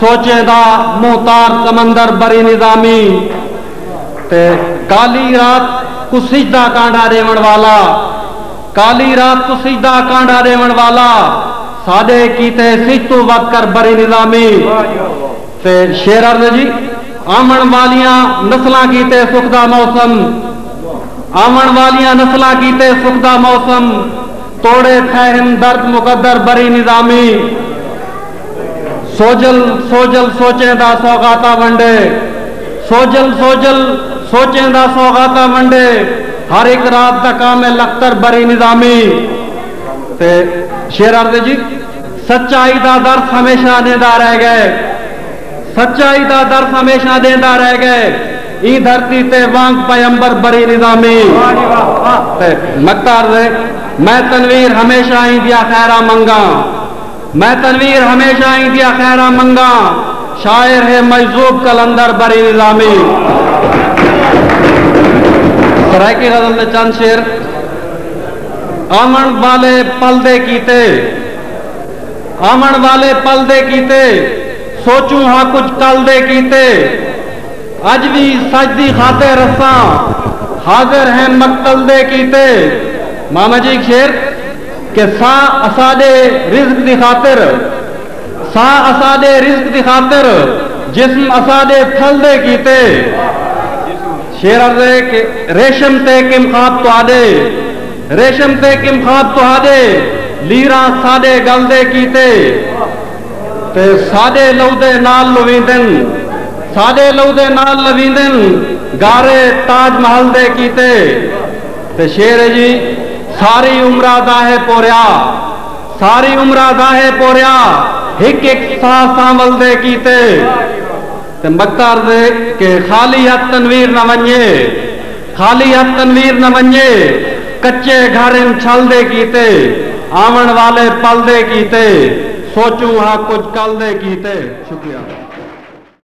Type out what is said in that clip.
سوچیں دا مہتار سمندر بری نظامی تے کالی رات کوں سجدہ کانڈھا ݙیوݨ والا کالی رات کوں سجدہ کانڈھا ݙیوݨ والا ساݙے کیتے سجھ توں ودھ کر بری نظامی تے شیرر جی آوݨ والیاں نسلاں کیتے سکھ دا موسم آوݨ والیاں نسلاں کیتے سکھ دا موسم توڑے تھئے ہن درد مقدر بری نظامی۔ سوجھل سوجھل سوچیں دا سوغاتا ونڈے سوجھل سوجھل سوچیں دا سوغاتا ونڈے ہر ہک رات دا کام ہے لختر بری نظامی تے شعر عرض ہے جی سچائی دا درس ہمیشہ دیندا رہ گئے سچائی دا درس ہمیشہ دیندا رہ گئے ای دھرتی تے وانگ پیمبر بری نظامی تے نقطہ عرض ہے میں تنویر ہمیشہ ایندیا خیرہ منگاں میں تنویر ہمیشہ ایں دیاں خیراں منگاں۔ شاعر ہے مجذوب قلندر بری نظامی۔ سرائیکی غزل دے چند شعر آوݨ والے پل دے کیتے آوݨ والے پل دے کیتے سوچوں ہا کجھ کل دے کیتے اڄ وی سچ دی خاطر اساں حاضر ہیں مقتل دے کیتے ماما جی ہک شعر۔ کہ ساں اساݙے رزق دی خاطر، ساں اساݙے رزق دی خاطر جسم اساݙے تھلدے کیتے۔ شعر عرض ہے کہ ریشم تے کم خواب تہاݙے، ریشم تے کم خواب تہاݙے لیراں ساݙے ڳل دے کیتے۔ تے ساݙے لہو دے نال لویندن، ساݙے لہو دے نال لویندن گارے تاج محل دے کیتے۔ تے شعر ہے جی ساری عمرا داہے پوریا ساری عمرا داہے پوریا ہک ہک ساہ سانول دے کیتے تے مکتار دے کہ خالی ہتھ تنویر نہ ونجے خالی ہتھ تنویر نہ ونجے کچے گھر ان چھل دے کیتے آون والے پل دے کیتے سوچوں ہا کجھ کل دے کیتے شکریہ۔